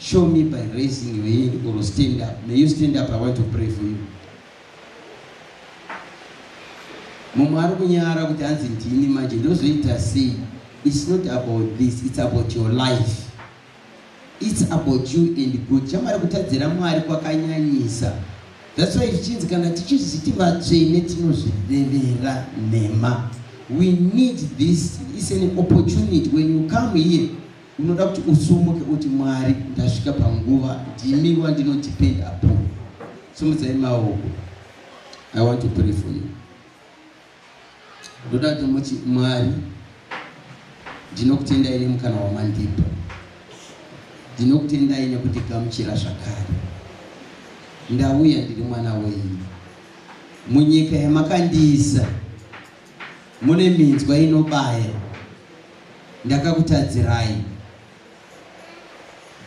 Show me by raising your hand or stand up. May you stand up, I want to pray for you. Mumwe ari kunyara kuti hanzi ndini manje ndozoita sei? It's not about this, it's about your life. It's about you and God. Chamari kutadzira Mwari kwakanyanyisa. That's why zvichinzi kana tichizvi titi vatsvene tinozvirevera nhema. We need this. It's an opportunity when you come here. Unoda kuti usumuke uti Mwari ndasvika panguva ndimi wandino depend upon. Simudzai maoko. I want to pray for you. Ndoda kuti muti Mwari ndinokutendai nemukana wamandipa. Ndinokutendai nekundigamuchira zvakare. Ndauya ndiri mwana wenyu. Munyika yamakandiisa. Mune minzwa inobaya ndakakutadzirai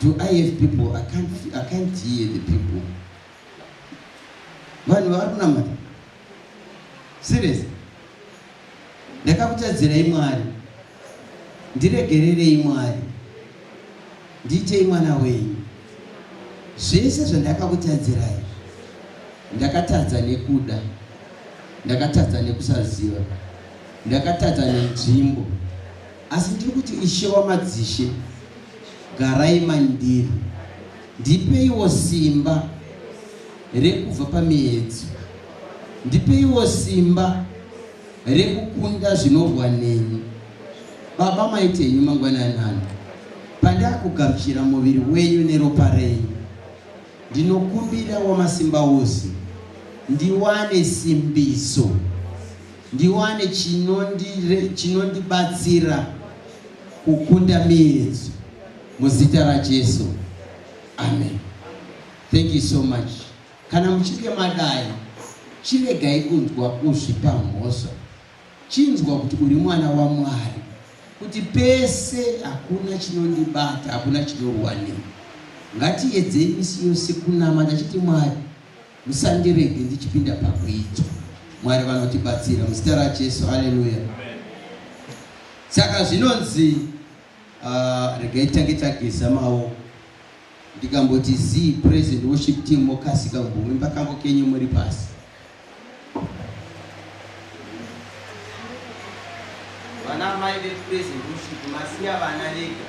do i have people i can't, I can't hear the people vanhu vari kunamata serious ndakakutadzirai mwari Ndiregererei Mwari, ndiitei mwana wenyu. Zvese zvandakakutadzirai ndakatadza nekuda, ndakatadza nekusaziva, ndakatadza nenzvimbo, asi ndiri kuti Ishe wamadzishe, garai mandiri, ndipeiwo simba rekubva pamiedzo, ndipeiwo simba rekukunda zvinorwa neni baba maitenyu mangwanani ano pandakugamuchira muviri wenyu neropa renyu ndinokumbira wamasimba ose ndiwane simbiso ndiwane chinondibatsira chino kukunda miedzo muzita rajesu amen thank you so much Kana muchinge madai, chiregai kunzwa kuzvipa mhosva. Chinzwa kuti uri mwana waMwari, kuti pese hakuna chinondibata, hakuna chinorwa neni. Ngatiedzei misi yose kunamata tichiti, Mwari, musandirege ndichipinda pakuidzwa. Mwari vanotibatsira muzita raJesu. Haleluya! Saka zvinonzi uh, regai tange tageza maoko Ndikamboti zii praise and worship team mokasika kumbovimba kambo kenyu muri pasi. Vana mai ve praise and worship masiya vana vega.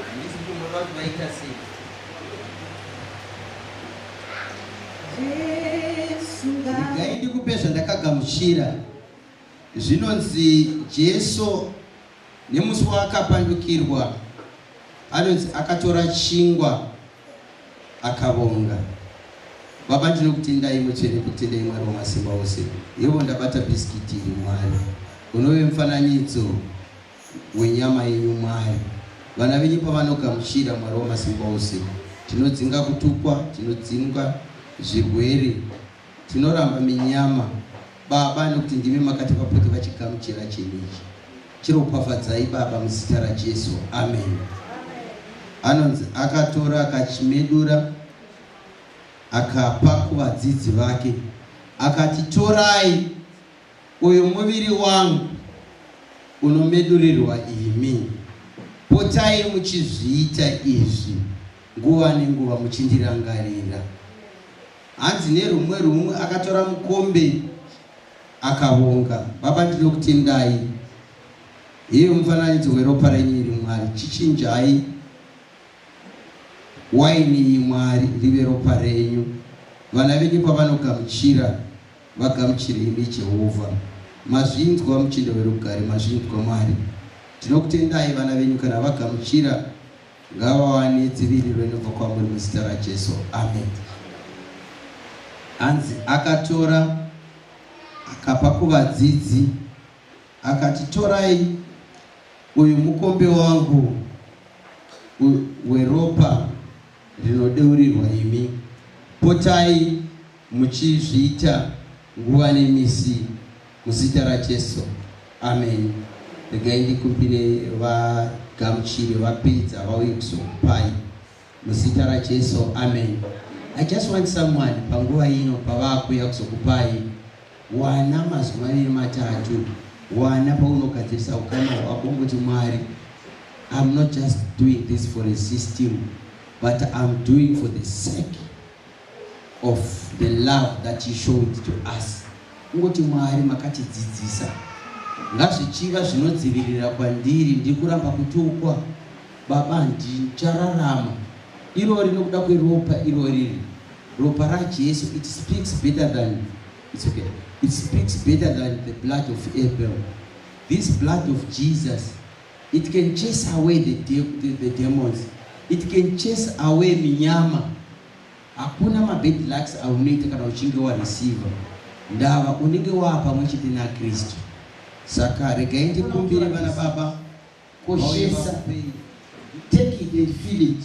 Handisi kumboda kuti vaita sei. Regai ndikupe zvandakagamuchira. Zvinonzi Jesu Nemusi waakapandukirwa, anonzi akatora chingwa akavonga. Baba ndinokutendai mutsvene kutendai Mwari wamasimba ose. Yevo ndabata bhisikiti iri Mwari. Unove mufananidzo wenyama yenyu Mwari. Vana venyu pavanogamuchira Mwari wamasimba ose tinodzinga kutukwa, tinodzinga zvirwere. Tinoramba minyama baba nekuti ndimi makatipa pote vachigamuchira chinhu ichi chiropafadzai baba muzita rajesu amen anonzi akatora akachimedura akapa kuvadzidzi vake akati torai uyu muviri wangu unomedurirwa imi potai muchizviita izvi nguva nenguva muchindirangarira Hanzi nerumwe rumwe akatora mukombe akavonga. Baba ndinokutendai. Heyo mufananidzo weropa renyu iri Mwari. Chichinjai waini iyi Mwari rive ropa renyu. Vana venyu pavanogamuchira vagamuchire imi Jehovha. Mazvinzwa muchinda werugare, mazvinzwa Mwari. Ndinokutendai vana venyu kana vagamuchira Ngavawane dziviriro inobva kwamuri muzita raJesu. Amen. Hanzi akatora akapa kuvadzidzi akati torai uyu mukombe wangu weropa rinodeurirwa imi potai Muchizviita nguva nemisi muzita raJesu. Amen. Regai ndikumbire vagamuchiri vapedza vauye kuzokupai muzita raJesu. Amen. I just want someone panguva ino pavakuya kuzokupai wana mazwi maviri matatu wana paunogadzirisa ukama hwako ngokuti mwari I'm not just doing this for a system, but I'm doing for the sake of the love that you showed to us kungoti mwari makatidzidzisa ngazvichiva zvinodzivirira kwandiri ndiri kuramba kutukwa baba ndichararama irori nokuda kweropa iroriri ropa rajesu it speaks better than it's okay it speaks better than the blood of abel this blood of jesus It can chase away the, de the, the demons. It can chase away minyama. Hakuna mabad lucks aunoita kana uchinge wareceiva ndava unenge waa pamwe chete naKristu. Saka regai ndikumbire vana baba koshesa take it and feel it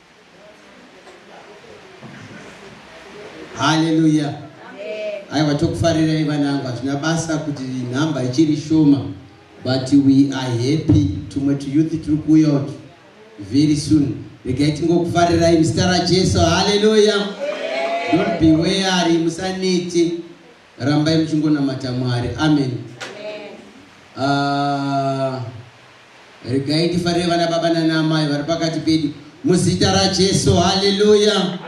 haleluya aiwa tokufarirai vanangu hazvina basa kuti nhamba ichiri shoma but we are happy tumwe tuyouth tiri kuuya utu very soon regai tingokufarirai muzita rajesu haleluya don't be weary musaneti Rambai muchingonamata Mwari. Amen. Ah, regai tifarire vana baba nana amai vari pakati pedu muzita rajesu haleluya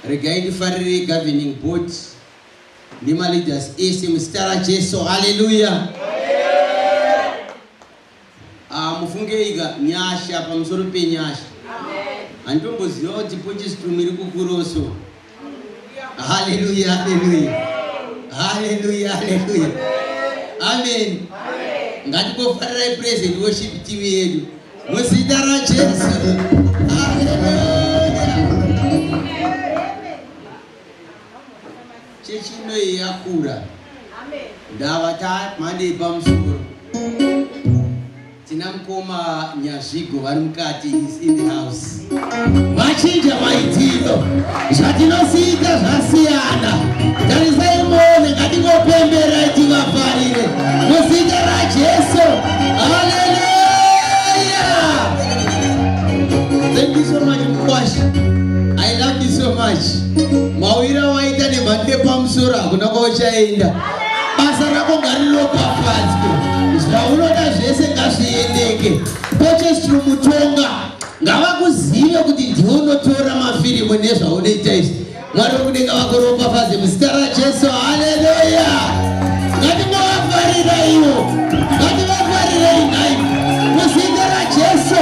regai tifarire governing board nemaleaders ese muzita rajesu haleluya Ah mufungeika nyasha pamusoro penyasha. Handitomboziva kuti pochisi tumu iri kukuroso. Hallelujah, hallelujah. Hallelujah, hallelujah. Amen. Ngatikofarirai praise and worship team yedu. Muzita raJesu. Hallelujah. Chechi ino iyi yakura. Ndava tamhando yepamusoro. Tina mukoma Nyazvigo vari mukati is in the house. Machinja maitiro. Zvatinosiita zvasiyana. Tarisai muone ngatingopembera tivafarire. Muzita raJesu. Hallelujah. Thank you so much Mkwasha. I love you so much. Mauira waita nemhandi yepamusoro hakuna kwauchaenda. Basa rako ngariropafadzwe. Zvaunoda zvese ngazviendeke. Purchase through Mutonga. Ngavakuzive kuti ndiwe unotora mafirimu nezvaunoita izvi. Mwari wekudenga vakuropafadze muzita raJesu. Haleluya. Ngatingovafarira ivo. Ngativafarirei nhai. Muzita raJesu.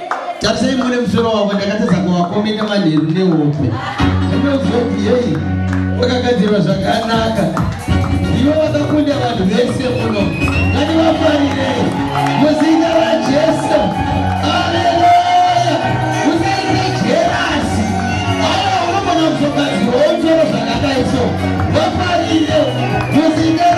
Tarisai muone musoro wako ndakatadza kuvakomena manheru nehope. Ndinozoti yei wakagadzirwa zvakanaka. Ndivo vakakunda vanhu vese muno. Ngani vafarirei muzina raJesu. Haleluya. Usaite jerasi. Haya unogona kuzogadzirwa womsoro zvakadai so. Vafarire muzina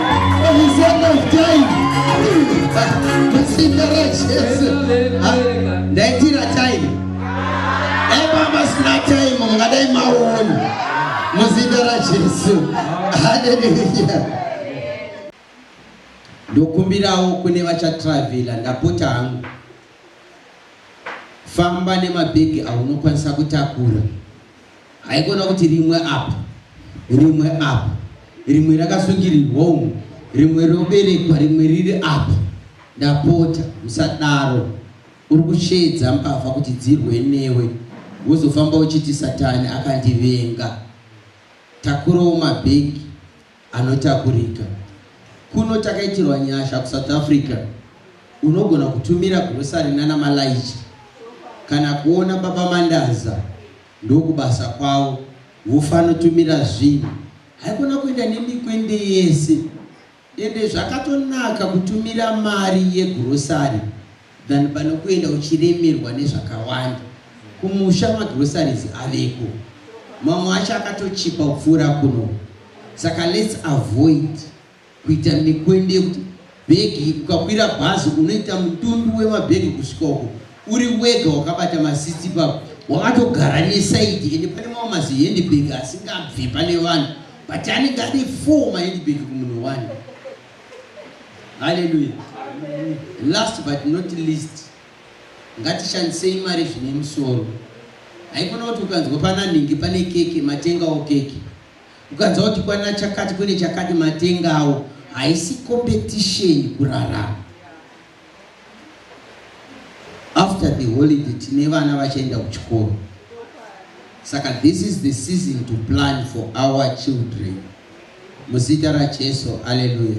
ndaitira time ebaba sina time mungadai maoni muzita rajesu haleluya ndokumbirawo kune vachatravhela ndapota hangu famba nemabhegi aunokwanisa kutakura Haikona kuti rimwe apa, rimwe apa, rimwe rakasungirirwa umu, rimwe roberekwa, rimwe riri apa. Ndapota, usadaro. Uri kusheedza mbavha kuti dzirwe newe, wozofamba uchiti Satani akandivenga. Takurawo mabhegi. Anotakurika. Kuno takaitirwa nyasha kuSouth Africa unogona kutumira grocery nana malayicha kana kuona baba Mandaza ndokubasa kwavo vofanotumira zvinhu haikona kuenda nemikwende yese ende zvakatonaka kutumira mari yegrocery than pano kuenda uchiremerwa nezvakawanda kumusha magroceries aveko mamwe acho akatochipa kupfuura kuno saka let's avoid kuita mikwende yekuti bhegi ukakwira bhazi unoita mutumbi wemabhegi kusvika uko uri wega wakabata masisi ipapo wakatogara nesaidi ende pane mamwe mazihendbhegi asingabve pane vanhu but anenge ane four mahendbhegi kumunhu one Hallelujah. Last but not least, ngatishandisei mari zvine musoro. Haikona kuti ukanzwa pana nhingi pane keke matengawo keke. Ukanzwa kuti kwana chakati kune chakati matengawo. Haisi competition kurarama. after the holiday tine vana vachaenda kuchikoro saka this is the season to plan for our children muzita rajesu aleluya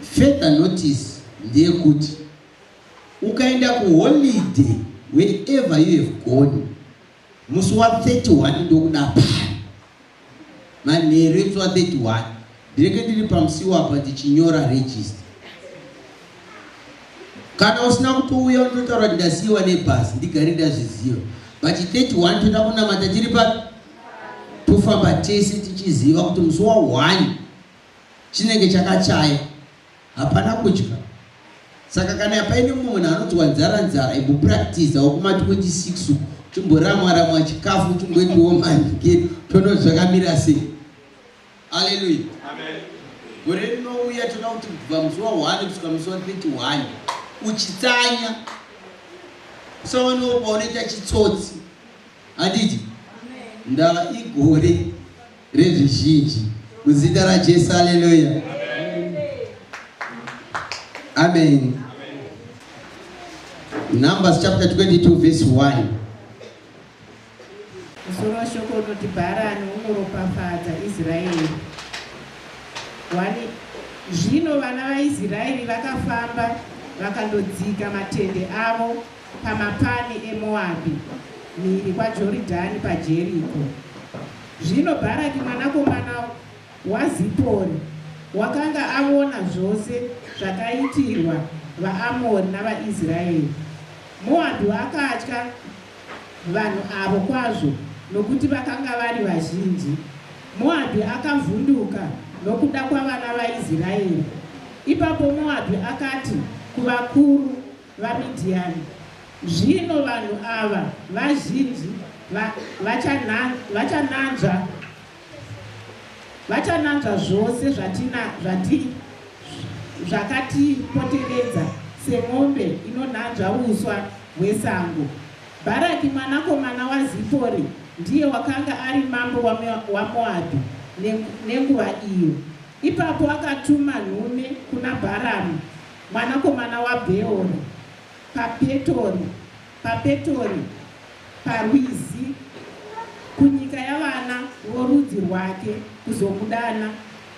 further notice ndeyekuti ukaenda kuholiday wherever you have gone musi wa 31 ndokuda paa Manheru etswa 31 ndinenge ndiri pamusiwo apa ndichinyora register. Kana usina kutouya unototaura kuti ndasiiwa nebhazi ndigare ndazviziva. But 31 toda kunamata tiri papi? Tofamba tese tichiziva kuti musi wa 1 chinenge chakachaya. Hapana kudya saka kana paine munhu anonzwa nzara nzara imbopractisawo kumati 26 uku chimboramwa ramwa chikafu chimboendiwo manike tono zvakamira sei aleluya gore rinouya tona kuti kubva musi wa 1 kusvika musi wa 31 uchitsanya usaonewo paunoita chitsotsi handiti ndaa igore Revizhinji. Muzita raJesu, haleluya. Amen. Numbers chapter 22 verse 1. Musoro washoko unoti Bharani unoropafadza Israeri. Wani zvino vana vaIsraeri vakafamba vakandodzika matende avo pamapani eMoabhi, mhiri kwaJoridhani paJeriko. Zvino Bharaki mwanakomana waZipori wakanga aona zvose zvakaitirwa vaAmori navaIsraeri. Moabhi wakatya vanhu avo kwazvo, nokuti vakanga vari vazhinji. Moabhi akavhunduka nokuda kwavana vaIsraeri. Ipapo Moabhi akati kuvakuru VaMidhiani. Zvino vanhu ava vazhinji va, vachana, vachananzva vachananzva zvose zvatina zvati zvakatipoteredza semombe inonanzva uswa hwesango. Bharaki mwanakomana waZipori ndiye wakanga ari mambo waMoabhi nenguva iyo. Ipapo akatuma nhume kuna Bharamu Mwanakomana waBheori, paPetori, paPetori, parwizi, kunyika yavana vorudzi rwake, kuzokudana,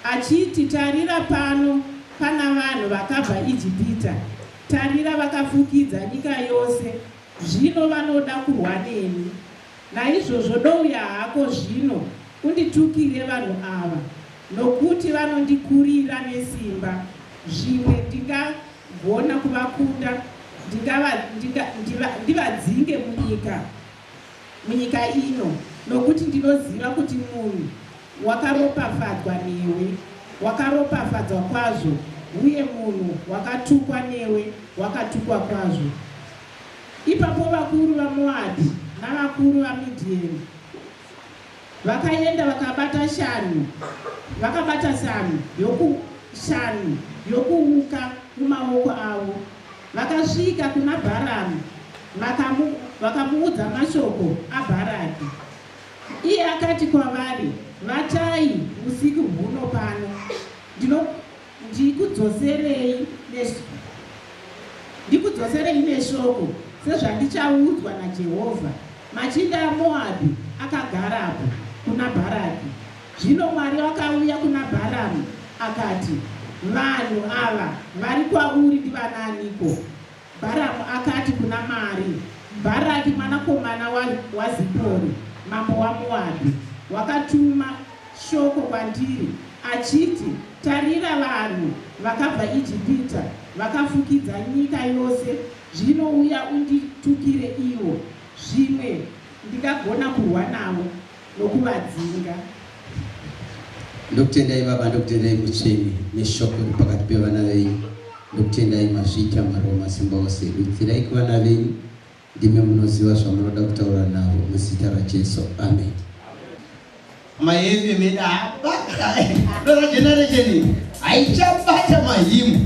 achiti, Tarira, pano pana vanhu vakabva Ijipita, tarira, vakafukidza nyika yose, zvino vanoda kurwa neni. Naizvozvo douya hako zvino unditukire vanhu ava, nokuti vanondikurira nesimba, zvimwe ndingagona kuvakunda ndivadzinge munyika ino, nokuti ndinoziva kuti munhu wakaropafadzwa newe wakaropafadzwa kwazvo, uye munhu wakatukwa newe wakatukwa kwazvo. Ipapo vakuru vaMoabhi navakuru vaMidhieni vakaenda vakabata shanhu, vakabata shanhu yoku, shanhu yokuuka mumaoko avo. Vakasvika kuna Bharamu vakamu, vakamuudza mashoko aBharaki. Iye akati kwavari, Vatai usiku huno pano, ndino Ndikudzoserei neshoko, ndikudzoserei neshoko sezvandichaudzwa naJehovha. Machinda aMoabhi akagarapo kuna Bharaki. Zvino Mwari akauya kuna Bharamu akati, Vanhu ava vari kwauri ndivanaaniko? Bharamu akati kuna Mari, Bharaki mwanakomana wa, waZipori, mambo waMoabhi, wakatuma shoko kwandiri, achiti, Tarira, vanhu vakabva Ijipita vakafukidza nyika yose, zvino uya unditukire ivo, zvimwe ndingagona kurwa navo. nokuvadzinga. Ndokutendai Baba, ndokutendai Mutsvene neshoko riri pakati pevana venyu. Ndokutendai mazviita Mwari wamasimba ose, dudzirai kuvana venyu, ndimi munoziva zvamunoda kutaura navo, muzita raJesu, amen. Mayevi meda hapa, dora generation haichapata mahimu.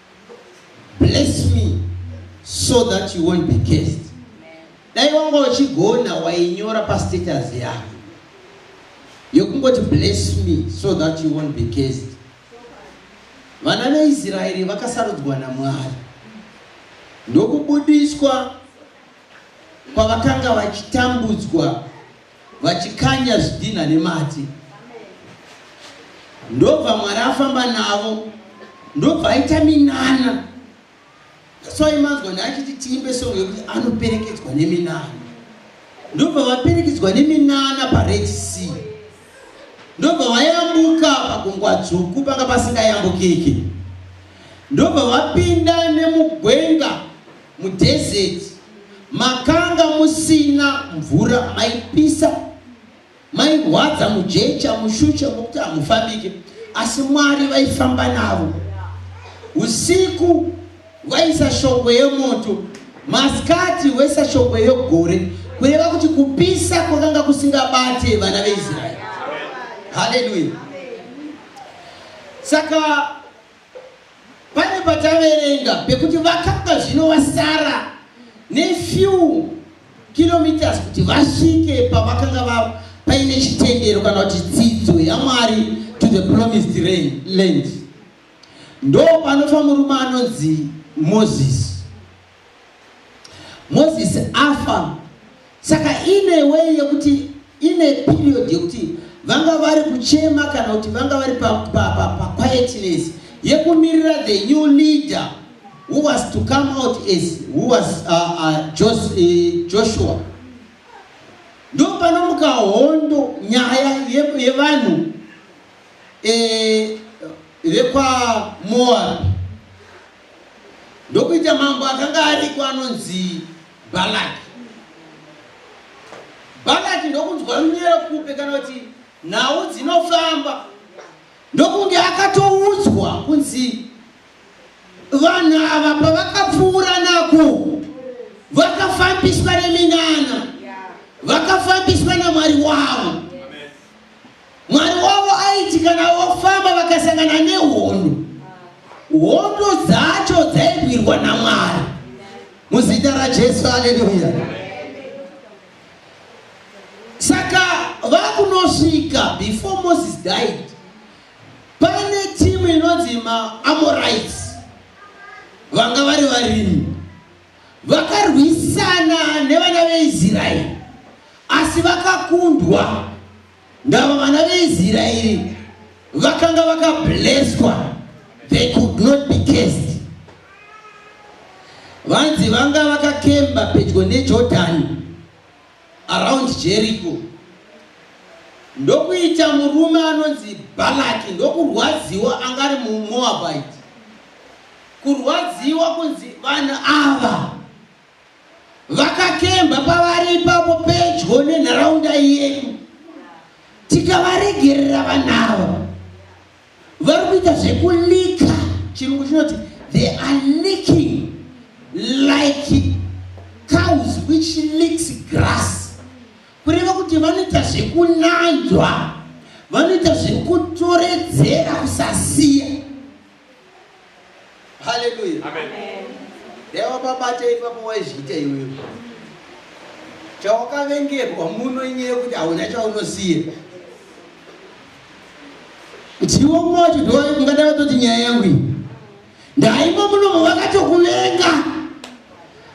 bless me so that you won't be cursed dai wanga uchigona wainyora pastatus yako yokungoti bless me so that you won't be cursed vana veisraeri vakasarudzwa namwari ndokubudiswa kwavakanga vachitambudzwa vachikanya zvidhinha nemati ndobva mwari afamba navo ndobva aita minana soimanzwa ndaachiti tiimbe songo yekuti anoperekedzwa neminana ndobva vaperekedzwa neminana pared sea ndobva vayambuka pagungwa dzvuku panga pasingayambukiki ndobva vapinda nemugwenga mudhezeti makanga musina mvura maipisa mairwadza mujecha mushusha mokuti hamufambike asi mwari vaifamba navo usiku vaisa shongwe yemoto masikati wesa shongwe yegore kureva kuti kupisa kwakanga kusingabate vana veisraeri haleluya saka pane pataverenga pekuti vakanga zvino vasara nefew kilometers kuti vasvike pavakanga va paine chitendero kana kuti dzidzo yamwari to the promised land ndo panofa murume anonzi moses Mozisi afa saka ine wei yekuti ine period yekuti vanga vari kuchema kana kuti vanga vari paquietness yekumirira the new leader who was to come out as who was uh, uh, Jos, uh, joshua ndo panomuka hondo nyaya yevanhu ye eh, vekwamoabi ndokuita mambo akanga ariko anonzi balaki balaki ndokunzwa runyero kupe kana kuti nhau dzinofamba ndokunge akatoudzwa kunzi vanhu ava pavakapfuura nako vakafambiswa neminana vakafambiswa namwari wavo Mwari wavo aiti kana vofamba vakasangana nehondo, hondo dzacho dzairwirwa naMwari muzita raJesu. Haleluya! Saka vakunosvika before Moses died, pane timu inonzi maAmorites vanga vari varimi Vakarwisana nevana veIsraeri asi vakakundwa. Ndava vana veIsraeri vakanga vakablesswa, they could not be cursed. Vanzi vanga vakakemba pedyo neJordani around Jericho ndokuita murume anonzi Balaki ndokurwadziwa angari muMoabite kurwadziwa kunzi vanhu ava vakakemba pavari ipapo pedyo nenharaunda yedu tikavaregerera vanhu ava vari kuita zvekulika chirungu chinoti they are licking like cows which licks grass kureva kuti vanoita zvekunanzwa vanoita zvekutoredzera kusasiya haleluya ndewapabata ipapo waizviita iwewe chawakavengerwa muno inyaya yekuti hauna chaunosiya ndiwo moti ndingadai vatoti nyaya yangu iyi ndaimo munomo vakatokuvenga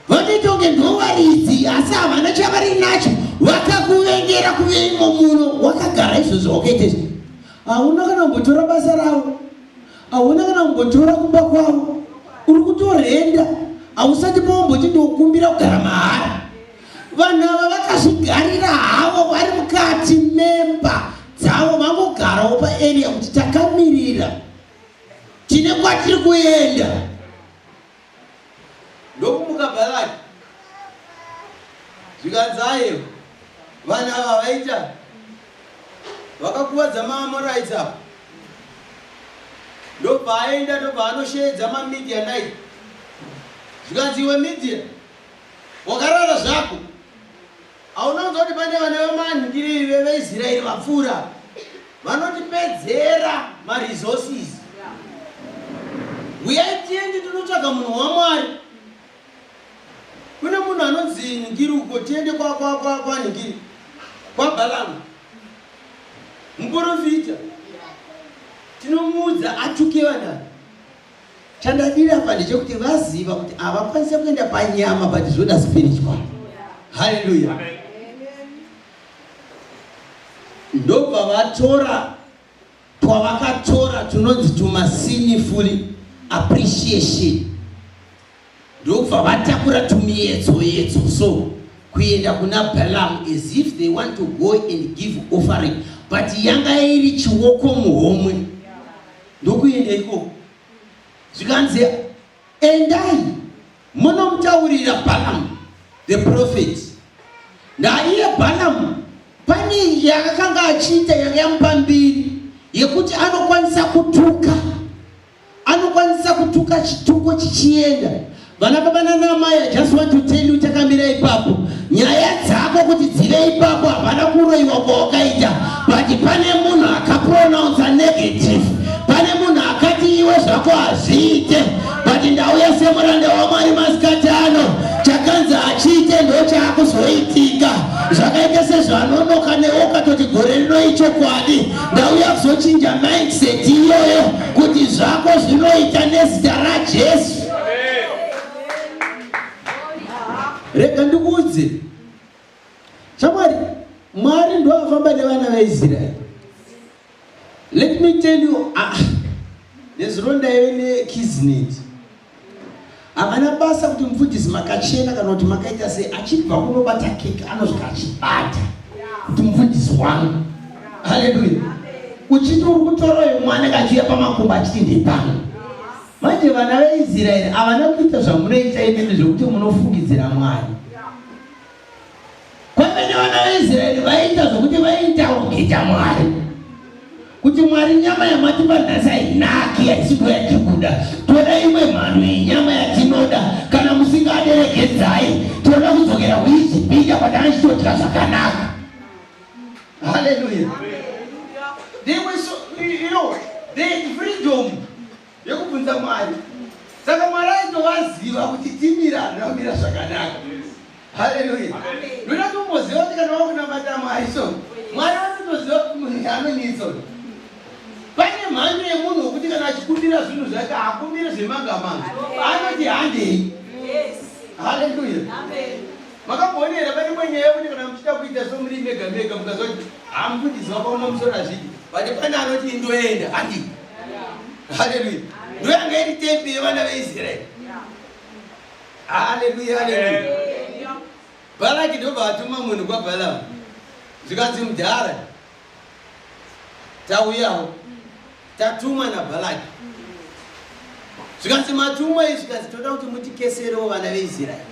vanoita kunge ndovaridzi asi havana chavari nacho vakakuvengera kuveimo muno wakagara izvozvo wakaita izvi hauna kana kumbotora basa ravo hauna kana kumbotora kumba kwavo uri kutorenda hausati paomboti ndokumbira kugara mahara vanhu ava vakazvigarira havo vari mukati memba dzavo vangogarawo paarea kuti takamirira tine kwatiri kuenda ndokumuka Bharaki zvikanzi ayewa vanhu ava vaita vakakuvadza maAmorites ava ndobva aenda ndobva anosheedza maMidianite zvikanzi iwe Midian wakarara zvako Hauna kunzwa kuti pane vana vemanhingiriri veveIsraeri vapfuura? Vanotipedzera maresources. Huyai tiende tinotsvaga munhu waMwari. Kune munhu anonzi nhingiri uko, tiende kwa kwa kwa kwa nhingiri. Kwa Balamu. Muporofita. Tinomuudza atuke vanhu. Chandadira apa ndechekuti vaziva kuti havakwanise kuenda panyama but zvoda spiritual. Hallelujah. Ndobva vatora twavakatora tunonzi tumasiniful appreciation. ndokubva vatakura tumiyetso yetso so kuenda kuna Balaam as if they want to go and give offering but yanga iri chioko muhomwe ndokuenda ikoko zvikanzi endai munomutaurira Balaam the prophet naiye Balaam pane yaakanga achiita yanga yamupa mbiri yekuti anokwanisa kutuka anokwanisa kutuka chituko chichienda vana baba nanamai i just want to tell you takamira ipapo nyaya dzako kuti dzive ipapo havana kuroiwa kwawakaita but pane munhu akapronounsa negative pane munhu akati iwe zvako hazviite but ndauya semuranda wamwari masikati ano chakanzi hachiite ndo chaakuzoitika zvakaita sezvanonoka newe ukatoti gore rinoichokwadi ndauya kuzochinja mindset iyoyo kuti zvako zvinoita nezita rajesu rega ndikuudze shamwari mwari ndoafamba nevana vaisraeri let me tell you ah, nezuro ndaive nekizneti Havana basa kuti mufundisi makachena kana kuti makaita sei achibva kunobata keke anosvika achibata kuti mufundisi wangu. Haleluya. Uchiti uri kutora uyu mwana kachiuya pamakumba achiti ndepano. Manje vana veIsraeri havana kuita zvamunoita imimi zvekuti munofungidzira Mwari. Kwamene vana vaIsraeri vaiita zvokuti vaiitawo kuita Mwari kuti Mwari nyama yamatipa nhasi hainaki haisi kuva yatikuda, toda imwe mhando yenyama yatinoda. Kana musingaderegedzai, tinoda kudzokera kuIjipita kwatanga chitodya zvakanaka. Haleluya! They were so, you know, they had freedom. yekubvunza mwari saka mwari aitovaziva kuti timira handina kumira zvakanaka haleluya ndoda kumboziva kuti kana wakunamata mwari so mwari vanotoziva kuti munhu anonitso pane mhando yemunhu wekuti kana achikumbira zvinhu zvake akumbire zvemangamanga anoti handei haleluya makambonera pane mwenyaya yekuti kana muchida kuita somuri mega mega mukazoti hamukundiziva paona musoro azvidi but pane anoti indoenda handii haleluya ndoyanga iri tembi yevana veisraeri haleluya haleluya balaki ndobva atuma munhu kwabalamu zvikanzi mudhara tauyawo tatumwa nabalaki zvikanzi matumwa izvi zvikanzi toda kuti mutikeserewo vana veisraeri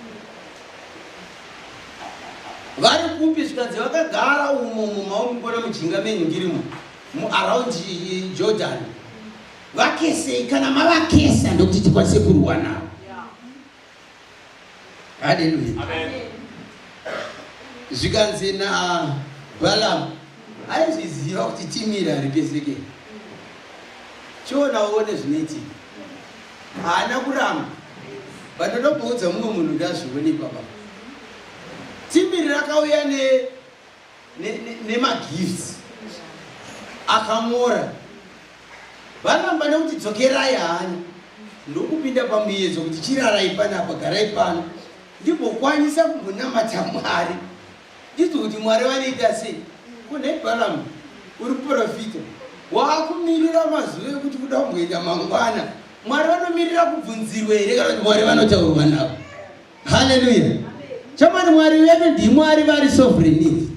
vari kupi zvikanzi vakagara umo mumaomukona mujinga menyu ndiri muno muaround jordan vakesei kana mavakesa ndokuti tikwanise kurwa navo haleluya zvikanzi nabalamu aizviziva kuti timiri haripeseke chiona uone zvinoitika haana kuramba vanoda kuudza mumwe munhu kuti azvione ipapa timiri rakauya ne nemagifts akamora varamba nekuti dzokerai hanya ndokupinda pamuyedzo kuti chirarai panapa garai pano ndimbokwanisa kumbonamata mwari ndizvo kuti mwari vanoita sei kunebalamu uri profita waakumirira mazuva ekuti kuda kumboenda mangwana mwari vanomirira kubvunzirwa here kana kuti mwari vanotaurwa navo haleluya chamani mwari vedu ndimwari vari sovereign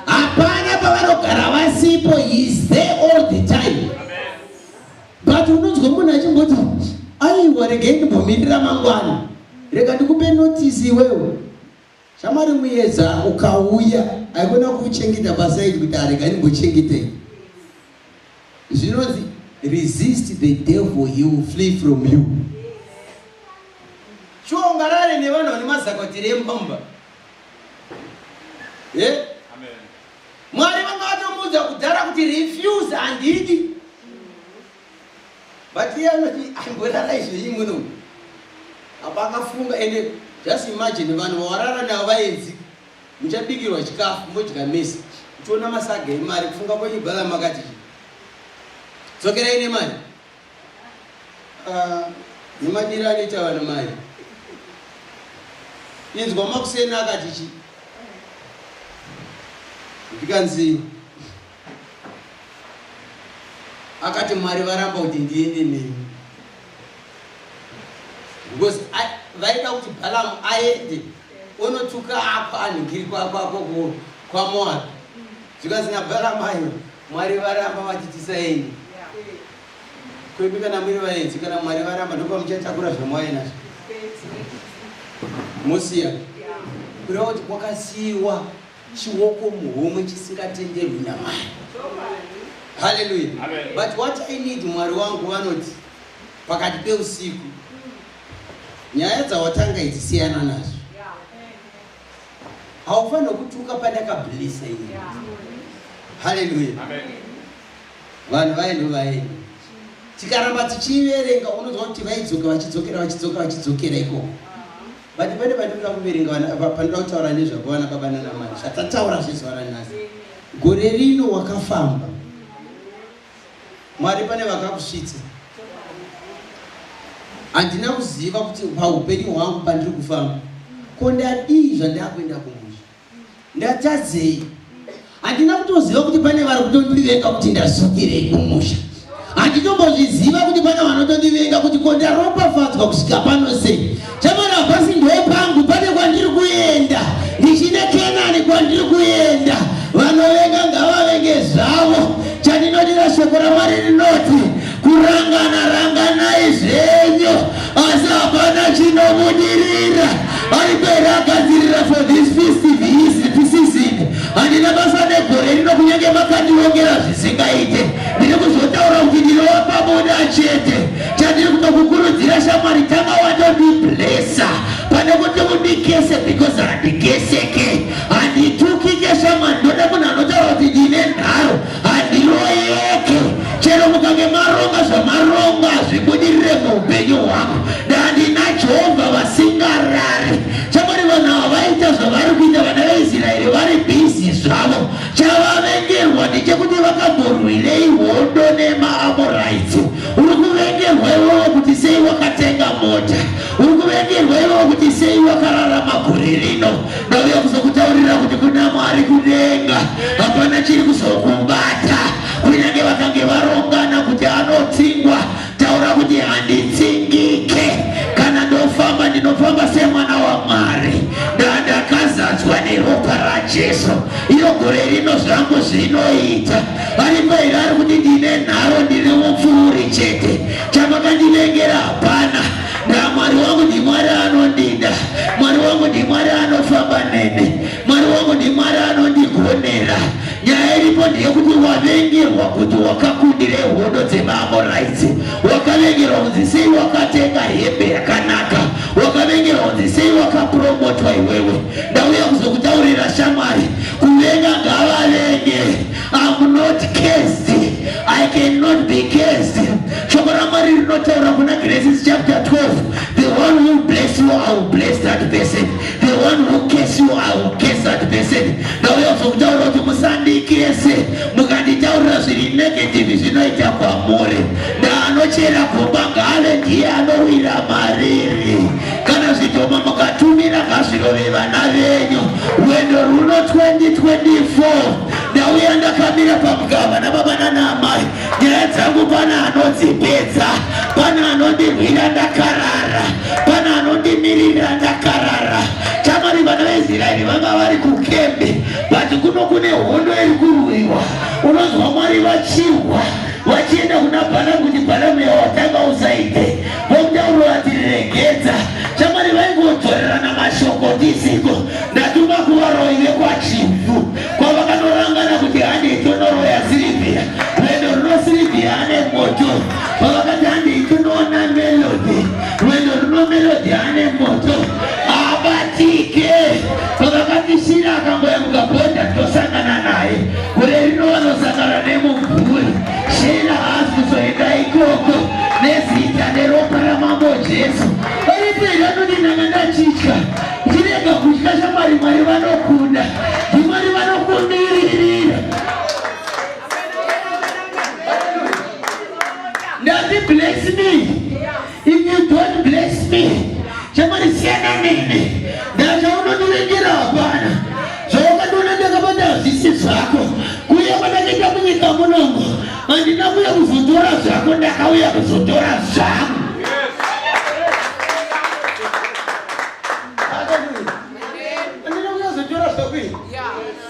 hapana pavanogara vasipo is there all the time but unonzwa munhu achimboti aiwa regai ndimbomirira mangwana rega ndikupe notisi iwewo shamwari muyedza ukauya aikona kuchengeta pasaidi kuti arega ndimbochengetei Zvinonzi resist the devil he will flee from you. Chiungarare nevanhu vane mazakotiri emumba. Eh? Mwari vanga vatomuudza kudhara kuti refuse handidi. But iye anoti amborara izvo iyi muno. Apa akafunga ende just imagine vanhu vawarara navo vaenzi. Muchabikirwa chikafu modya mese muchiona masaga emari kufunga kwenyu brother makati chii. Dzokerai nemari. Ah, nemadiro anoita vanhu mari. Inzwa makuseni akati chii. Ndikanzi akati mwari varamba kuti ndiende nemi. because vaida kuti balamu aende onotuka ako anhingiri kwako ako kwamoabi zvikanzi nabalamu ayo mwari varamba vachitisa enyu kwedu kana muri vaenzi kana mwari varamba ndopamuchatakura zvamwainazvo musiya kureva kuti kwakasiyiwa chioko muhomwe chisingatenderwi namai haleluya but what i need mwari wangu vanoti pakati peusiku nyaya dzawatanga idzi siyana nazvo haufanira kutuka pandakablisa ini haleluya vanhu vaino vaino tikaramba tichiverenga unonzwa kuti vaidzoka vachidzokera vachidzokera vachidzokera ikoko but pane pandinoda kuverenga pandinoda kutaura nezvako vana baba nanamai zvatataura zvezuva ranhasi gore rino wakafamba mwari pane vakakusvitsa handina kuziva kuti paupenyu hwangu pandiri kufamba ko ndadii zvandakuenda kumusha ndatadzei handina kutoziva kuti pane vari kutondivenga kuti ndasukirei kumusha handitombozviziva kuti pane vanotondivenga kuti ko ndaropafadzwa kusvika pano sei chamara hapasi ndoe pangu pane kwandiri kuenda ndichine kenani kwandiri kuenda vanovenga ngavavenge zvavo chandinodira shoko ramwari rinoti Kurangana ranganai zvenyu asi hapana chinobudirira. Aribere agadzirira for this festive his season. Handina basa negore rino kunyange makandiongera zvisingaite. Ndiri kuzotaura kuti ndinowa pabuda chete. Chandiri kutokukurudzira shamwari tanga watondiblessa pane kuti mundikese because handikeseke. Handitukike shamwari ndoda munhu anotaura kuti ndine nharo. handiroyeke chero mukange maronga zvamaronga hazvibudirire muupenyu hwangu ndandina jehovha vasingarari chamwari vanhu ava vaita zvavari kuita vana veisraeri vari bhizi zvavo chavavengerwa ndechekuti vakamborwirei hondo nemaamoraiti uri kuvengerwa ivovo kuti sei wakatenga mota uri kuvengerwa ivovo kuti sei wakarara magore rino Ndauya kuzokutaurira kuti kuna Mwari kudenga hapana chiri kuzokubata. Kunyange vakange varongana kuti anotsingwa, taura kuti handitsingike. Kana ndofamba ndinofamba semwana waMwari. Ndandakazadzwa neropa raJesu. Iyo gore rino zvangu zvinoita. Ari pairi ari kuti ndine nharo ndine mupfuuri chete. Chamakandivengera hapana. Na Mwari wangu ndi Mwari anondida, Mwari wangu ndi Mwari anofamba neni, Mwari wangu ndi Mwari anondigonera. Nyaya iripo ndeyekuti wavengerwa kuti wakakundire hondo dzemaAmorites, wakavengerwa kunzi sei wakatenga hembe yakanaka, wakavengerwa kunzi sei wakapromotwa iwewe. Ndauya kuzokutaurira shamwari, kuvenga ngavavenge I'm not cursed. I cannot be cursed. Shoko raMwari rinotaura kuna Genesis chapter 12. The one who bless you, I will bless that person. The one who curse you, I will curse that person. Ndauya kuzokutaura kuti musandikese. Mukanditaurira zviri negative zvinoita kwamuri. Ndaanochera gomba ngale ndiye anowira mariri. Kana zvitoma mukatumira ngazvirove vana venyu. Rwendo rwuno 2024. ndauya ndakamira pamugava nababa nana amai nyaya dzangu pana anodzipedza pana anondirwira ndakarara pana anondimirira ndakarara tamari vana veisraeri vanga vari kukembe but kuno kune hondo iri kurwiwa unonzwa mwari vachirwa vachienda kuna bhalamu kuti bhalamu yawatanga usaite Vomutauro vatiregedza shamwari vaingodzorerana mashoko ndisiko ndatuma kuvaroi vekwachivu kwavakanorangana kuti handei tonoroya sirivhia rwendo runo sirivhia ane moto kwavakati handei tinoona melodi rwendo runo melodi ane moto abatike kwavakati shira akangoyamuka bonda tosangana naye gore rino vanosangana nemubvuri Chena haasi kuzoenda ikoko nezita neropa ramambo Jesu. Variperi anoti ndanga ndachitya ndirega kutya shamwari Mwari vanokunda ndimwari vanokumiririra ndati bless me If you don't bless me, chamwari siyana nini. Ndachaunondiregera hapana. Zvawakatoona ndakabata hazvisi zvako. Kuya kwandakaita munyika munomu, handina kuya kuzotora zvako, ndakauya kuzotora zvangu.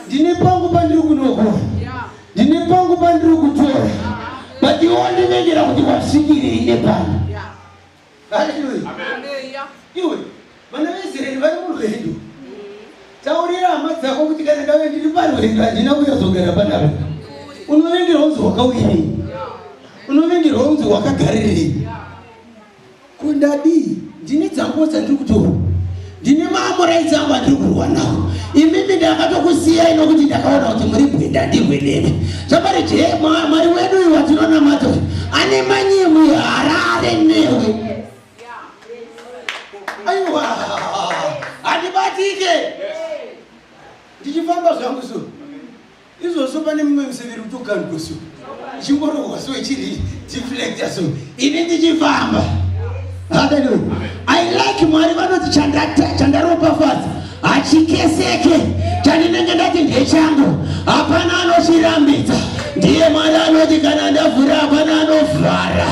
Ndine pangu pandiri kunokuwa ndine pangu pandiri kutora but iwo ndinengera kuti wasvikirei nepano haleluya iwe vana veisraeri vari murwendo taurira hama dzako kuti kana ndave ndiri parwendo handina kuyazogara panapa unovengerwa unzi wakauyirei unovengerwa unzi wakagarirei Ko ndadii? Ndine dzanguwo dzandiri kutorwa, ndine maamuraidzi angu andiri kurwa nawo. Imimi ndakatokusiyai nokuti ndakaona kuti muri bwinda ndihwe nemi. Zvapari je, Mwari wedu uyu watinonamata uyu ane manyemwe harare newe. Aiwa, handibatike ndichifamba zvangu so izvozvo pane mumwe museve iri kutokandwa so ichingorohwa so ichiri deflecta so ini ndichifamba haleluya i like mwari vanoti chandaropafadza hachikeseke chandinenge ndati ndechangu hapana anochirambidza ndiye mwari anoti kana ndavhura hapana anovhara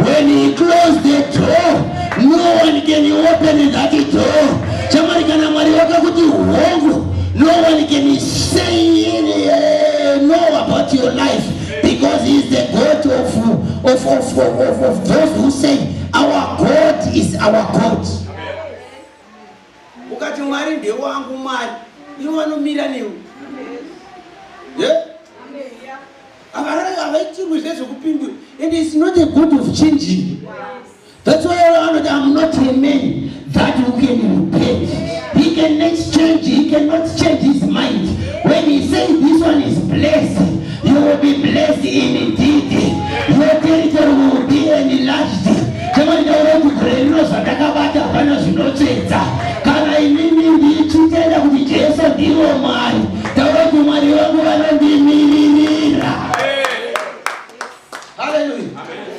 when he close the door no one can open that door chamwari kana mwari wakakuti hongu no one can Staying in here, know about your life because he is the God of, of, of, of, of those who say our God is our God. Ukati Mwari ndewangu Mwari, ivo vanomira newe. Yeah? Havaitirwi zvezvekupindura and it's not a good of changing. Yes. That's why anoti I'm not a man that who can repent. He can exchange, he cannot change his mind. When he says this one is blessed, you will be blessed in indeed. Your territory will be enlarged. Kama nitaura kuti gore rino zvandakabata hapana zvinotsvedza. Kana inini ndichitenda kuti Jesu ndiwo Mwari, taura kuti Mwari wangu vanondimiririra. Hallelujah. Amen.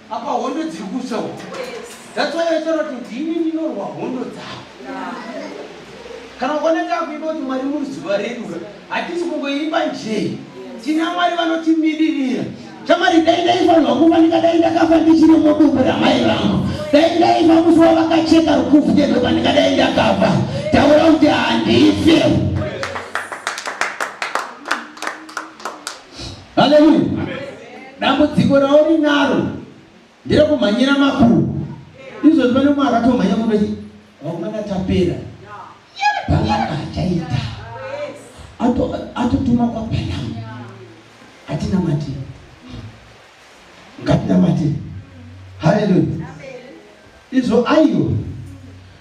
apa hondo dziri kusa uko that's why vaitaura kuti ndini ndinorwa hondo dzavo kana ukaona takuimba kuti mwari muri zuva redu ka hatisi kungoimba njee tina mwari vanotimiririra chamari dai ndaifanirwa kuva ndikadai ndakafa ndichiri muduku ramai vangu dai ndaifa musi wavakacheka rukufu tezvoka ndikadai ndakafa taura kuti handife haleluya dambudziko raurinaro nderekumhanyira makuru izvozvi pane umwe akatomhanya kunochi vakomana tapera bhanaka achaita atotuma kwabhanamu atina matira ngatinamate haleluya izvo aiwa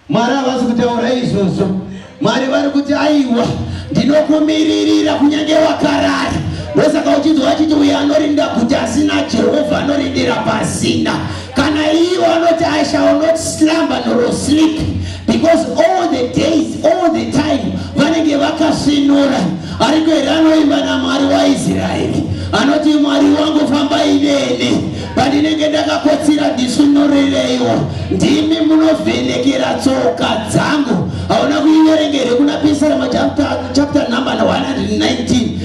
mwari havasi kutaura izvozvo mwari vari kuti aiwa ndinokumiririra kunyange wakarara ndosaka uchinzwa achiti uyo anorinda kuti asina jehovha anorindira pasina Kana iwo anoti I shall not slumber nor sleep because all the days all the time vanenge vakasvinura ariko here anoimba namwari waisraeri anoti mwari wangu fambai neni pandinenge ndakakotsira ndisvinuriraiwo ndimi munovhenekera tsoka dzangu hauna kuiverengere kuna pisarema chapter number 119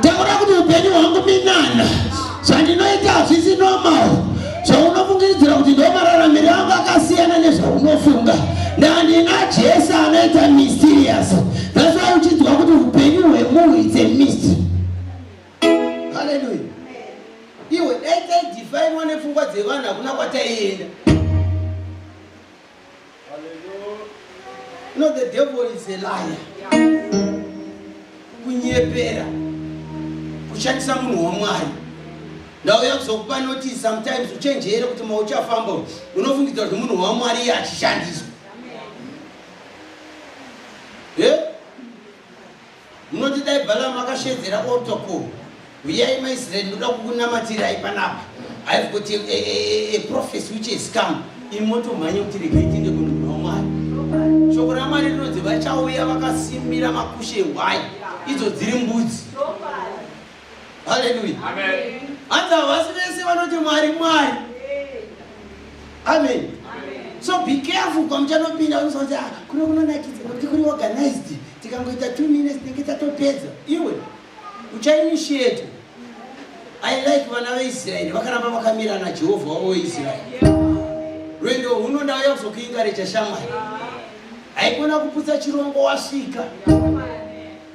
taura kuti upenyu hwangu minana zvandinoita hazvisi normal zvaunofungiridzira kuti ndomararamiro angu akasiyana nezvaunofunga ndandina jesu anoita mysterious that's why uchinzwa kuti upenyu hwemunhu its a mystery haleluya iwe dai taidifainwa nepfungwa dzevanhu hakuna kwataienda You know the devil is a liar. Kunyepera. Kushandisa munhu waMwari. Ndauya kuzokupa notice sometimes uchenjere kuti mauchafamba unofungidzwa kuti munhu waMwari iye achishandiswa. Munoti dai Balaam akashedzera otoko huyai maIsrael ndoda kukunamatirai panapa I have got a, a, a, a prophecy which has come imi motomhanya kuti regai tiende kunogona Mwari shoko raMwari rinonzi vachauya vakasimbira makushe hwai idzo dziri mbudzi haleluya hanzi havasi vese vanoti mwari mwari amen so be careful kwamuchanopinda unosakuti ah, kuno kunonakidza nokuti kuri organized tikangoita two minutes tinenge tatopedza iwe uchainitiate i like vana veisraeri vakaramba vakamira najehovha wavo weisraeri rwendo huno ndauya kuzokuingarecha shamwari haikona kuputsa chirongo wasvika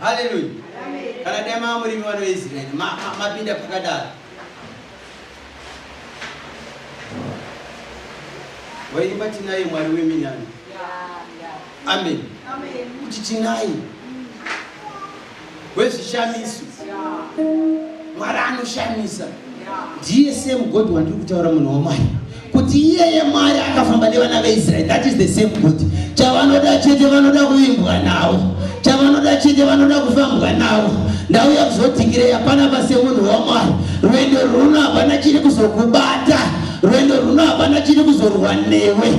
haleluya kana dai mava murimi vanoisraeri mapinda pakadaro waimba tinaye mwari weminani amen kuti tinaye wezvishamiso mwari anoshamisa ndiye same god wandiri kutaura munhu wamwari kuti iyeye mwari akafamba nevana veisraeri that is the same god chavanoda chete vanoda kuvimbwa navo chavanoda chete vanoda kufambwa navo ndauya kuzodhingirei hapana pase munhu wamwari rwendo rwuno hapana chiri kuzokubata rwendo rwuno hapana chiri kuzorwa newe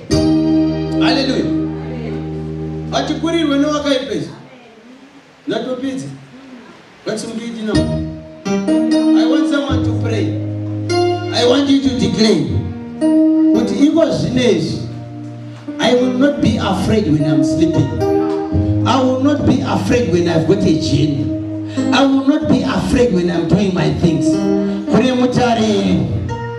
haleluya hatikurirwe newakaipa izvi ndatopedza that's mgidi now i want someone to pray i want you to declare kuti iko zvino izvi i will not be afraid when i'm sleeping i will not be afraid when i've got a gene i will not be afraid when i'm doing my things kune mutariri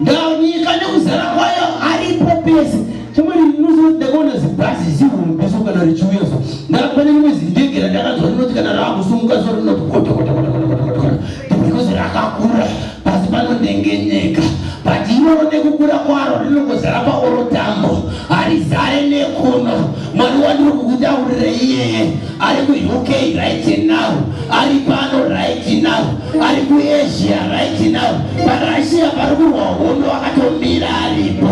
Ndaonyika nekuzara kwayo aripo pese. Chimwe ndinozoda ndakaona zibhazi zihuru pese kana richiuya so. Ndakapane rimwe zindege randakanzwa rinoti kana rakusumuka so rinoti koto koto koto koto koto koto. Because rakakura pasi panondengenyeka. But iroro nekukura kwaro rinongozara paoro tambo. Harizare nekuno. Mwari wandiri kukutaurira iyeye ari kuUK right now, ari pano right now, ari kuAsia right now, paRussia pari kurwa hondo akatomira aripo.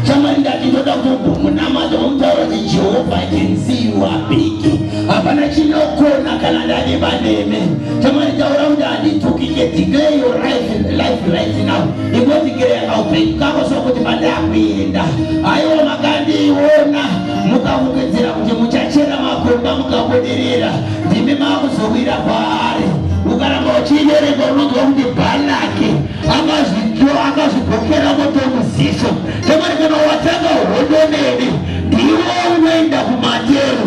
Chamwari ndati ndoda kutombonamata womutaura kuti Jehovha I can see you are big. Hapana chinokona kana ndave paneme. Chamwari taura kuti handitokike declare your life, life right now. ndikosvikira yakaupenyu kako sokuti mada kuenda aiwa makandiiona mukafungidzira kuti muchachera makomba mukabudirira ndimi makuzowira kwaari ukaramba uchiiverenga unonzwa kuti balaki akazvigokera motomuziso chomarikana watanga hondo neni ndiwo unoenda kumatero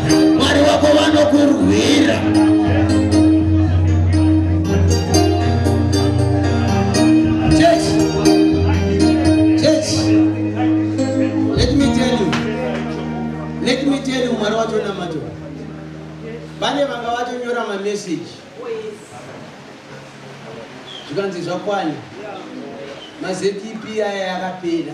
mwari wako vanokurwira mwari watonamato vane vanga vatonyora mameseji zvikanzi zvakwana mazpp aya yakapera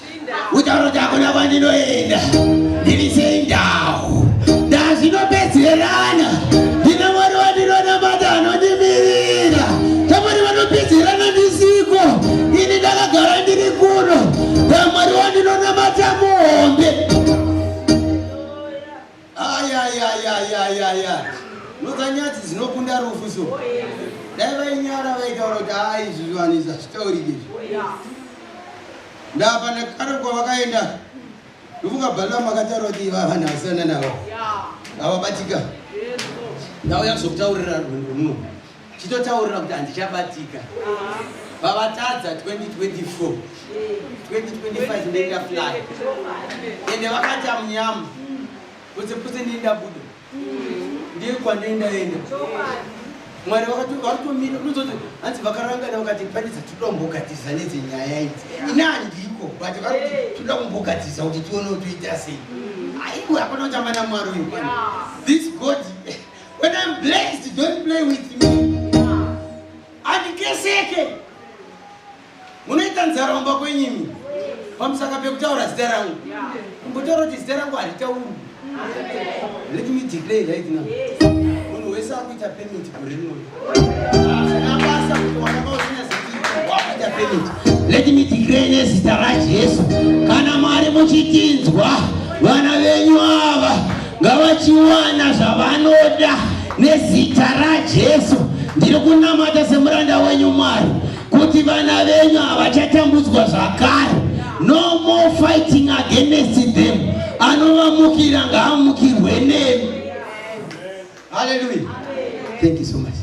utauro kuti hakuna kwandinoenda ndiri sei ndau ndazvinopedzerana ndine mwari wandinonamata anondimirira tamwari vanopedzerana ndisiko ini ndakagara ndiri kuno tamwari wandinonamata muhombe ayayayayayaya noka nyadzi dzinokunda rufu so dai vainyara vaitaura kuti haa izvi zvivanhu izvi hazvitaurike izvi ndapa nekare kwavakaenda ndofunga balamu akataura kuti iva vanhu avasiyana navo avabatika ndauya kuzokutaurira rwendo runo chitotaurira kuti handichabatika vavatadza 2024 2025 ndoita fly ende vakati amunyamu putse putse ndienda budo ndiye kwandoenda enda mwari vakatomira unozoti hanzi vakarangana vakati panidza toda kumbogadzirisa nedze nyaya idzi ini handiko but varoti toda kumbogadzirisa kuti tione toita sei aiwe hapana kutamba namwari uyu this god When I'm blessed, don't play with me. Andikeseke. Munoita nzara kumba kwenyimi. Pamusaka pekutaura zita rangu. Mbotaura kuti zita rangu haritauri. Let me declare right now. Munhu wese akuita payment kurinoyo. Let me declare nezita raJesu, kana Mwari muchitinzwa, vana venyu ava ngavachiwana zvavanoda nezita raJesu. Ndiri kunamata semuranda wenyu Mwari kuti vana venyu havachatambudzwa zvakare. No more fighting against them. Anovamukira ngaamukirwe nemi. Hallelujah. Amen. Thank you so much.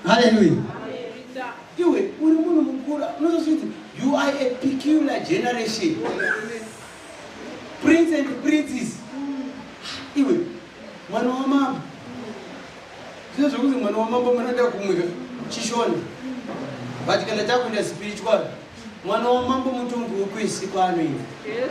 Hallelujah. Iwe uri munhu mukuru unozozviti you are a peculiar generation. Prince and princess. Iwe mwana wamambo. Zvino zvokuti mwana wamambo munoenda kumwe chishona. But kana takuenda spiritual mwana wamambo mutongo wokwese kwaanoenda. Yes,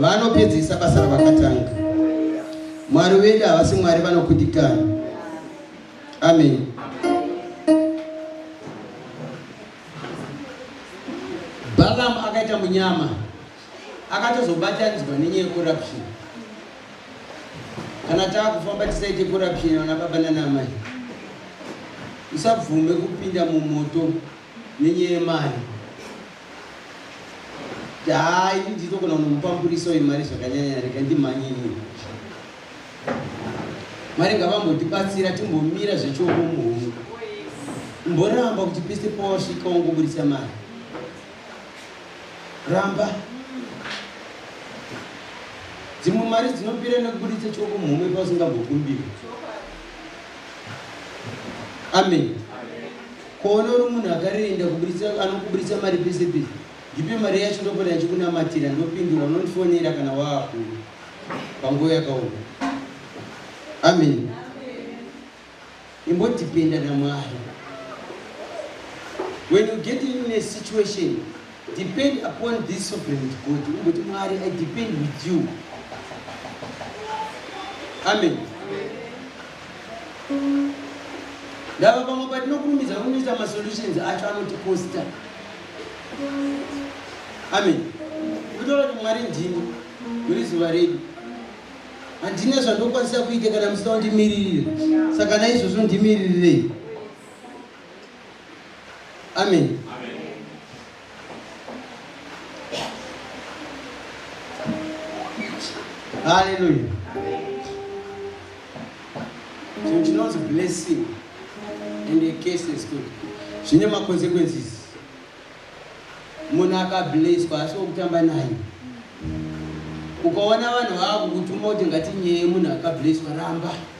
vanopedzisa basa ravakatanga mwari vedu havasi mwari vanokudikana amen balaam akaita munyama akatozobataniswa nenyaya yecorruption kana taakufamba tisaite corruption vana baba nanamai usabvume kupinda mumoto nenyaya yemari Yaa ini ndinogona kunomupamburisa uyu mari zvakanyanya rega ndimhanye inini. Mwari ngavambotibatsira timbomira zvechomo muhungu. Mboramba kuti pese pawasvika wangoburitsa mari. Ramba. Dzimwe mari dzinopira nekuburitsa choko muhomwe pausingambokumbiri. Amen. Kuona uri munhu akarenda kuburitsa anokuburitsa mari pese pese ndipe mari yacho ndopota ndichikunamatira ndopindura unondifonera kana waakuru panguva yakaoma amen imbodipenda namwari when you get in a situation depend upon this sovereign god umboti mwari i depend with you amen, amen. ndava pamwe patinokurumidza kunoita masolutions acho anotikosta amen kutora kuti mwari ndini muri zuva redu handina zvandokwanisa kuita kana musina kundimiririra saka naizvozvo ndimiririrei amen, amen. Hallelujah. So she knows blessing and the case is good. Zvine ma consequences. Munhu akablesswa asi wokutamba naye. Ukaona vanhu vakutuma kuti ngatinyeyi munhu akablesswa ramba.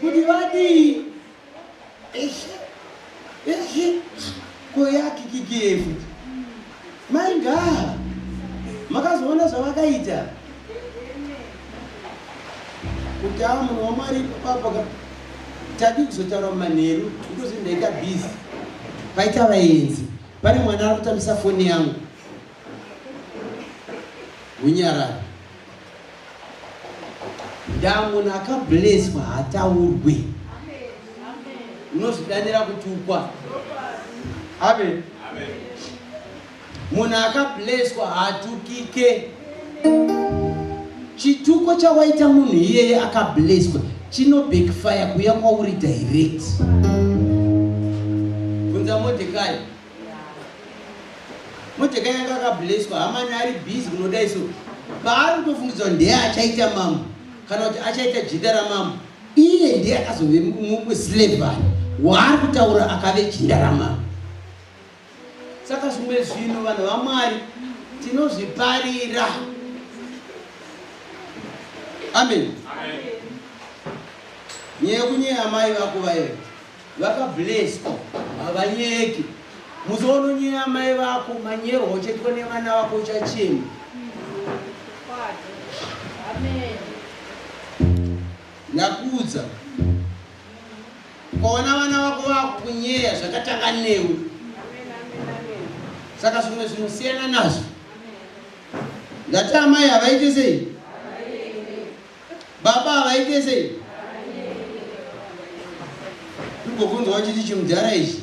kuti vadii eshe eshe koyakikikie futi mai ngaa makazoona zvavakaita kuti aa munhu wamwari ipapo tadi kuzotaura mumanheru ndozvindaita busy paita vaenzi pane mwana ari kutambisa foni yangu Hunyarari. Ndaa munhu akableswa hataurwe. Unozvidanira kutukwa. Amen. Munhu akableswa haatukike. Chituko chawaita munhu iyeye akableswa chino backfire kuya kwauri direct. Bvunza Mordecai. Mojeka yanga akableswa hamani ari busy kunodai so paari kutofungidzwa ndeye achaita mambo kana kuti achaita jinda ramambo iye ndiye akazove muslavari waari kutaura akave jinda ramambo saka zvimwe zvinhu vanhu vamwari tinozviparira amen nyaya yekunyeya mai vako vaye Vaka blessed havanyeki. Musi waunonyeya amai vako manyerwa uchaitwa nevana vako uchachema. Ndakudza kwaona vana vako vakunyeya zvakatanga newe saka zvimwe zvinosiyana nazvo ndati amai havaite sei Baba havaite sei? Ndikubvunzwa uchiti chimudhara ichi.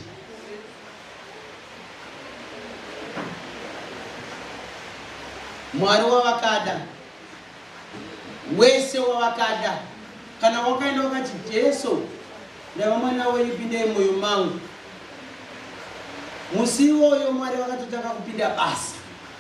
Mwari wavakada. Wese wavakada. Kana wakaenda wakati Jesu ndava mwana wenyu pindei moyo mangu. Musi iwoyo Mwari vakatotanga kupinda basa.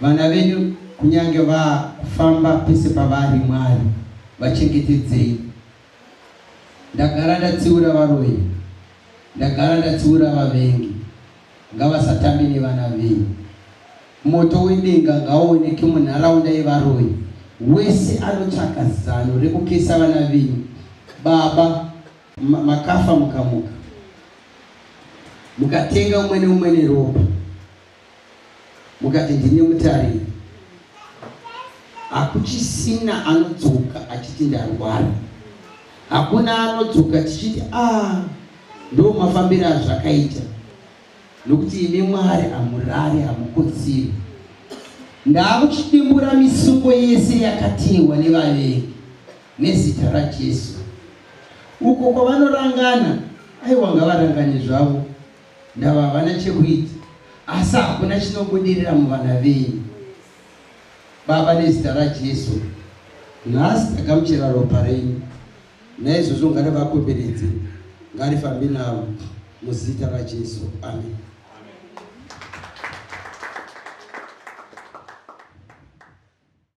Vana venyu kunyange vafamba pese pavari Mwari vachengetedzei ndagara ndatsiura varoyi ndagara ndatsiura vavengi ngavasatambe nevana venyu moto wedenga ngaoneke munharaunda yevaroyi wese anotsvaka zano rekukesa vana venyu baba makafa mukamuka mukatenga umwe neumwe neropa mukati ndine mutariri hakuchisina anodzoka achiti ndarwara hakuna anodzoka tichiti a ah, ndo mafambiro azvakaita nokuti imi mwari hamurari hamukotsiri ndaakuchidimbura misungo yese yakatehwa nevavengi nezita rajesu uko kwavanorangana aiwa ngavarangane zvavo ndava havana chekuita asi hakuna chinobudirira muvana venyu baba nezita rajesu nhasi ndagamuchira ropa renyu naizvozvo ngari vakomberedze ngarifambi navo muzita rajesu amen